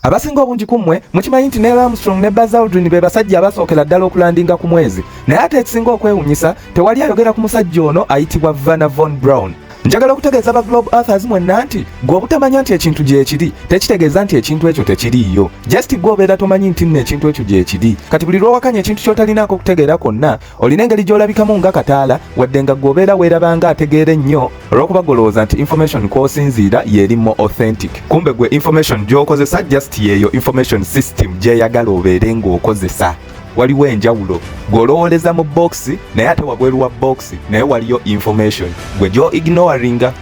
Abasinga obungi ku mmwe mukimanyi nti Neil Armstrong ne Buzz Aldrin be basajja abasookera ddala okulandinga ku mwezi, naye ate ekisinga okwewunyisa tewali ayogera ku musajja ono ayitibwa Vanna von Braun. Njagala okutegeeza ba Globe Earthers mwenna nti gwe obutamanya nti ekintu gyekiri tekitegeeza nti ekintu ekyo tekiriiyo. Just gwe obeera tomanyi nti nno ekintu ekyo gyekiri. Kati buli lwowakanya ekintu kyotalinaako kutegeera kwonna olina engeri gy'olabikamu nga kataala wadde nga gwobeera weeraba nga ategeera ennyo olw'okuba golowooza nti information kw'osinziira yeeri mo authentic kumbe gwe information gy'okozesa just yeeyo information system gyeyagala obeere ng'okozesa waliwo enjawulo gw'olowoleza mu bokisi naye ate wabweru wa bokisi naye waliyo information gwe gyo ignoringa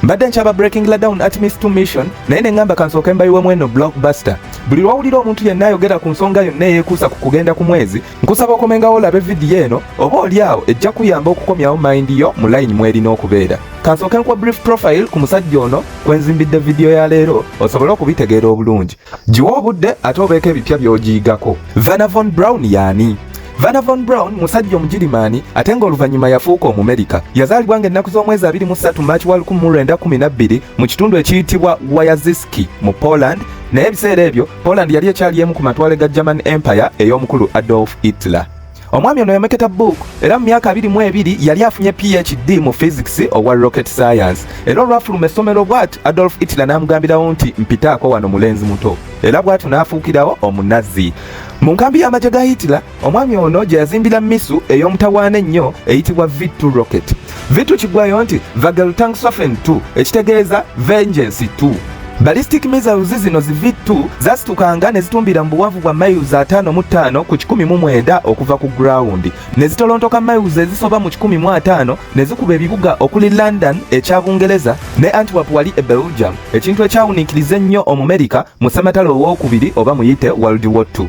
mbadde nkyaba breaking la down at miss to mission naye ne ŋŋamba kansooke mbayiwemu eno blockbuster buli lwawulira omuntu yenna ayogera ku nsonga yonna eyeekuusa ku kugenda ku mwezi Nkusaba okomengawo olabe vidiyo eno oba oli awo ejja kuyamba okukomyawo mayindi yo mu layini mw'erina okubeera. Kansooke nkuwa brief profile ku musajja ono kwe nzimbidde vidiyo ya leero osobole okubitegeera obulungi. Giwa obudde ate obeeko ebipya by'ogiyigako. Vana Von Brown yaani? Vana Von Brown musajja Omugirimaani ate ng'oluvannyuma yafuuka Omumerika. Yazaalibwa ng'ennaku z'omwezi abiri mu ssatu March wa lukumu mu lwenda kkumi na bbiri mu kitundu ekiyitibwa Wayaziski mu Poland Naye ebiseera ebyo Poland yali ekyali emu ku matwale ga German Empire ey'omukulu Adolf Hitler. Omwami ono yameketa book era mu myaka abiri mu ebiri yali afunye PhD mu physics owa rocket science era olwafuluma essomero bwati Adolf Hitler n'amugambirawo nti mpitaako wano mulenzi muto era bwatyo n'afuukirawo omunazi mu nkambi y'amagye ga Hitler Omwami ono gye yazimbira misu ey'omutawaana ennyo eyitibwa V2 Rocket. V2 kigwayo nti Vageltangswaffen 2 ekitegeeza Vengeance 2. Ballistic missiles zino zi V2 zasitukanga ne zitumbira mu buwanvu bwa miles ataano mu ttaano ku kikumi mu mwenda okuva ku ground ne zitolontoka miles ezisoba mu kikumi mu ataano ne zikuba ebibuga okuli London ekya Bungereza ne Antwerp wali e Belgium ekintu ekyawuniikiriza ennyo Omumerika mu ssematalo owookubiri oba muyite World War II.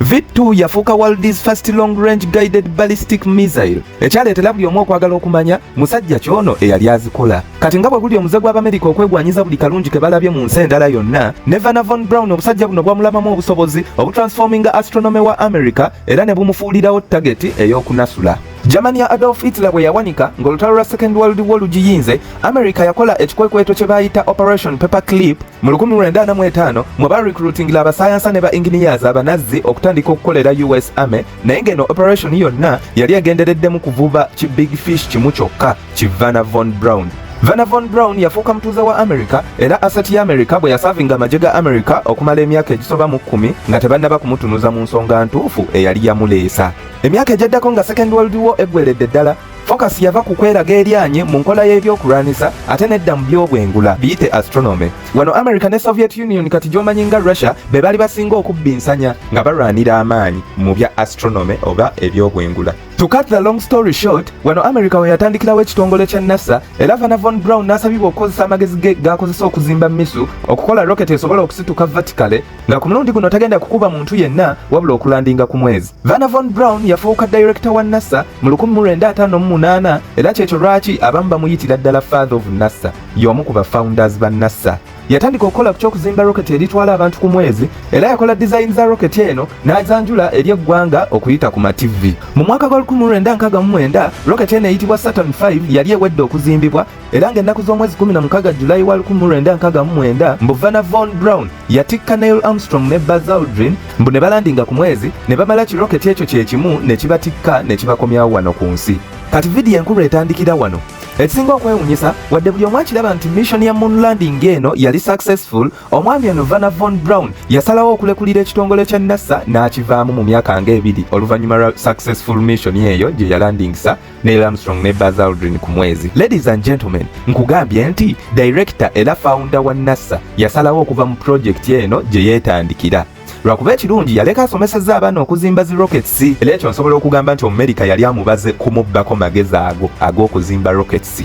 V2 yafuuka world's first long range guided ballistic missile ekyaleetera buli omu okwagala okumanya musajja kyono eyali azikola kati nga bwe guli omuze gw'abamerika okwegwanyiza buli kalungi ke balabye mu nsi endala yonna ne vana von brown obusajja buno bwamulabamu obusobozi obutransforminga astronomy wa america era ne bumufuulirawo tageti ey'okunasula germany ya adolf hitler bwe yawanika ng'olutalo lwa second world war lugiyinze america yakola ekikwekweto kye baayita operation paper clip Mu 1945 mwe ba recruitingila abasayansa ne ba engineers abanazzi okutandika okukolera US Army naye ng'eno operation yonna yali egendereddemu kuvuba ki big fish kimu kyokka ki Vanna von Braun. Vanna von Braun yafuuka mutuuze wa America era asset ya America bwe yasavinga amagye ga America okumala emyaka egisoba mu kkumi nga tebannaba kumutunuza mu nsonga ntuufu eyali yamuleesa. Emyaka egyaddako nga Second World War eggweredde ddala Focus yava ku kweraga eryanye mu nkola y'ebyokulwanyisa ate nedda mu by'obwengula biyite astronomy. Wano America ne Soviet Union kati gy'omanyi nga Russia be bali basinga okubbinsanya nga balwanira amaanyi mu bya astronomy oba eby'obwengula. To cut the long story short, wano America we yatandikirawo ekitongole kya NASA era Vanna von Braun n'asabibwa okukozesa amagezi ge g'akozesa okuzimba misu okukola rocket esobola okusituka vertically nga ku mulundi guno tagenda kukuba muntu yenna wabula okulandinga ku mwezi. Vanna Von Braun yafuuka dayirekita wa NASA mu 1958 era kyekyo lwaki abamu bamuyitira ddala Father of NASA, y'omu ku ba founders ba NASA. Yatandika okukola ku ky'okuzimba roketi eritwala abantu ku mwezi era yakola dizayini za roketi eno n'azanjula eri eggwanga okuyita ku mativi. Mu mwaka gwa 1969 roketi eno eyitibwa Saturn V yali ewedde okuzimbibwa era ng'ennaku z'omwezi 16 julayi wa 1969 mbu vana von brown yatikka neil armstrong ne buzz aldrin mbu ne balandinga ku mwezi ne bamala kiroketi ekyo kye kimu ne kibatikka ne kibakomyawo wano ku nsi kati vidiyo enkulu etandikira wano ekisinga okwewunyisa wadde buli omu akiraba nti mission ya moon landing eno yali successful omwami eno vana von brown yasalawo okulekulira ekitongole kya nasa n'akivaamu mu myaka nga ebiri oluvannyuma lwa successful mission eyo gye yalandingisa Neil Armstrong ne Buzz Aldrin ku mwezi. Ladies and gentlemen, nkugambye nti director era founder wa NASA yasalawo okuva mu project eno gye yeetandikira lwakuba ekirungi yaleka asomeseza abaana okuzimba zi rockets era ekyo nsobola okugamba nti omumerika yali amubaze kumubbako magezi ago ag'okuzimba rockets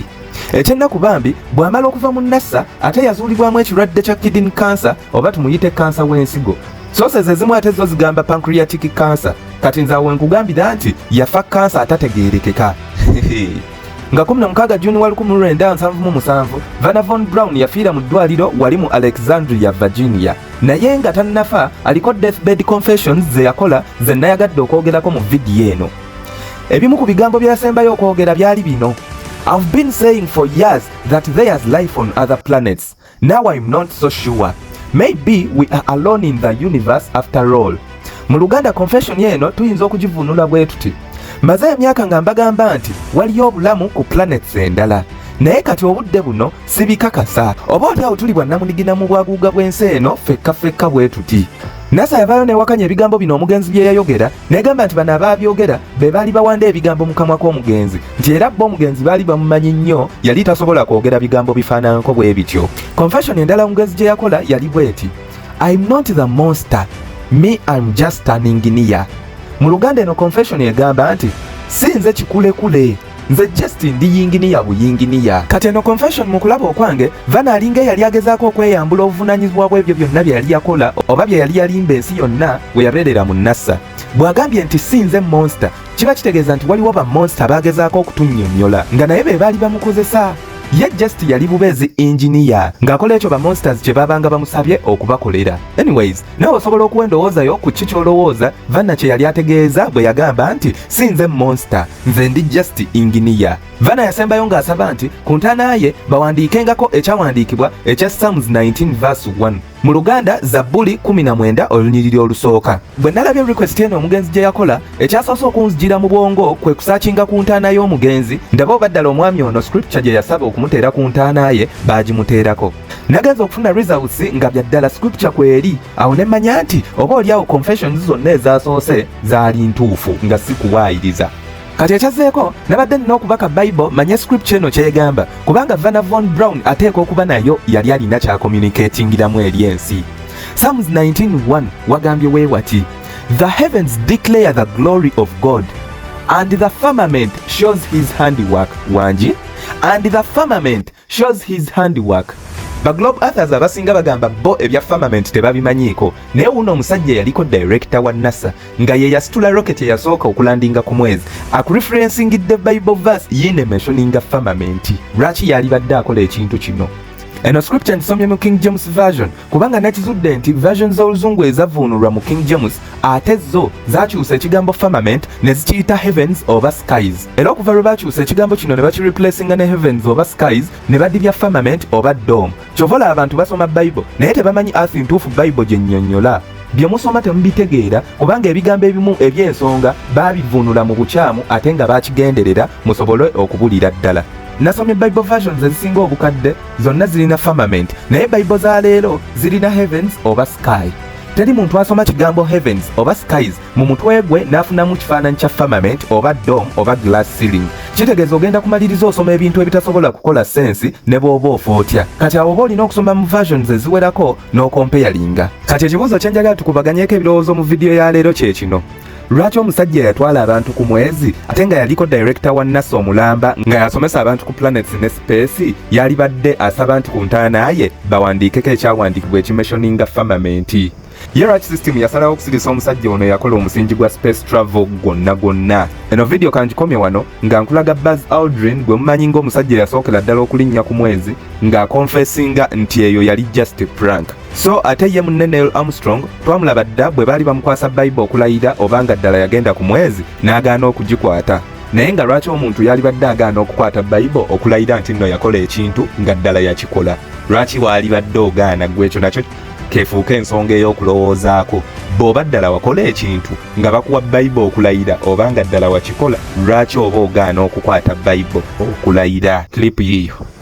ekyennaku bambi bw'amala okuva mu nasa ate yazuulibwamu ekirwadde kya kidin cancer oba tumuyite kansa w'ensigo sooses ezimu ate zo zigamba pancreatic cancer kati nze awo nkugambira nti yafa kansa atategeerekeka nga 16 juni wa 1977 vana von brown yafiira mu ddwaliro wali mu alexandria virginia naye nga tannafa aliko deathbed confessions ze yakola ze nayagadde okwogerako mu vidiyo eno ebimu ku bigambo byasembayo okwogera byali bino I've been saying for years that there's life on other planets. Now I'm not so sure. Maybe we are alone in the universe after all. Mu Luganda confession eno tuyinza okugivunula bwe tuti. Maze emyaka nga mbagamba nti waliyo obulamu ku planets endala. Naye kati obudde buno sibikakasa. Oba oli awo tuli bwannamunigina mu bwaguuga bw'ensi eno fekka fekka bwe tuti. NASA yavaayo newakanya ebigambo bino omugenzi bye yayogera Negamba nti bano abaabyogera be baali bawanda ebigambo mu kamwa k'omugenzi nti era bo omugenzi baali bamumanyi nnyo yali tasobola kwogera bigambo bifaananko bwe bityo. Confession endala omugenzi gye yakola yali bweti I'm not the monster me I'm just standing near. Mu Luganda eno confession egamba nti si nze kikulekule. nze just ndi yinginiya buyinginiya kati eno confession mu kulaba okwange vana alinga eyali agezaako okweyambula obuvunanyizibwa bw'ebyo byonna bye yali yakola oba bye yali yalimba ensi yonna we yabeerera mu nasa bw'agambye nti si nze monster kiba kitegeeza nti waliwo ba monster abaagezaako okutunnyonnyola nga naye be baali bamukozesa ye just yali bubeezi engineer ng'akola ekyo ba monsters kye baabanga bamusabye okubakolera anyways nawe osobola okuwa endowooza yo ku ki ky'olowooza vanna kye yali ategeeza bwe yagamba nti si nze monster nze ndi just inginiya vana yasembayo ng'asaba nti ku ntaana ye bawandiikengako ekyawandiikibwa ekya sams 19 vs 1 mu luganda zabbuli 19 olunyiriri olusooka bwe nalabye request eno omugenzi gye yakola ekyasoose okunzijira mu bwongo kwe kusakinga ku ntaana y'omugenzi ndaba oba ddala omwami ono scripture gye yasaba okumuteera ku ntaana ye baagimuteerako nagenza okufuna results nga bya ddala scripture kweri awo ne mmanya nti oba oli awo confessions zonna ezasoose zaali ntuufu nga si kuwaayiriza kati ekyazzeeko nabadde nina okubaka bible manye scripture eno kyegamba kubanga vana von brown ateeka okuba nayo yali alina kyakomunikatingiramu eri ensi psalms 191 wagambye weewati the heavens declare the glory of god and the firmament shows his handiwork wangi and the firmament shows his handiwork ba globe authors abasinga bagamba bo ebya firmament tebabimanyiiko naye wuno omusajja yaliko director wa nasa nga ye yasitula rocket eyasooka okulandinga ku mwezi akureferensingidde bible verse yine mentioninga firmament lwaki yalibadde akola ekintu kino eno scripture nsomye mu king james version kubanga nakizudde nti version z'oluzungu ezavuunulwa mu king james ate zo zakyusa ekigambo firmament ne zikiyita heavens oba skies era okuva lwe bakyusa ekigambo kino ne bakireplacinga ne heavens oba skies ne badibya firmament oba dom kyovola abantu basoma bible naye tebamanyi earth ntuufu bible gye nnyonnyola bye musoma temubitegeera kubanga ebigambo ebimu eby'ensonga baabivvuunula mu bukyamu ate nga bakigenderera musobole okubulira ddala nasomye bible versions ezisinga obukadde zonna zirina firmament naye bible za leero zirina heavens oba sky Teri muntu asoma kigambo heavens oba skies mu mutwe gwe n'afunamu kifaananyi kya firmament oba dom oba glass ceiling. Kitegeeza ogenda kumaliriza osoma ebintu ebitasobola kukola sensi ne bw'oba ofa otya. Kati awo oba olina okusoma mu versions eziwerako n'okompeyalinga. Kati ekibuuzo kye njagala tukubaganyeko ebirowoozo mu vidiyo ya leero kye kino. lwaki omusajja yatwala abantu ku mwezi ate nga yaliko direkita wa nasa omulamba nga yasomesa abantu ku planets ne space yalibadde asaba nti ku ntaana ye bawandiikeko ekyawandiikibwa ekimeshoninga famamenti ye lwaki system yasalawo okusirisa omusajja ono yakola omusingi gwa space travel gwonna gwonna eno vidiyo kangikomye wano nga nkulaga bas aldrin gwe mumanyi ng'omusajja yasookera ddala okulinnya ku mwezi ng'akonfesinga nti eyo yali just prank So ate ye munne Neil Armstrong twamulaba dda bwe baali bamukwasa Bible okulayira oba nga ddala yagenda ku mwezi n'agaana okugikwata. Naye nga lwaki omuntu yalibadde agaana okukwata Bible okulayira nti nno yakola ekintu nga ddala yakikola? Lwaki waalibadde ogaana gwe ekyo nakyo kefuuka ensonga ey'okulowoozaako. Bw'oba ddala wakola ekintu nga bakuwa Bible okulayira oba nga ddala wakikola, lwaki oba ogaana okukwata Bible okulayira? Clip yiyo.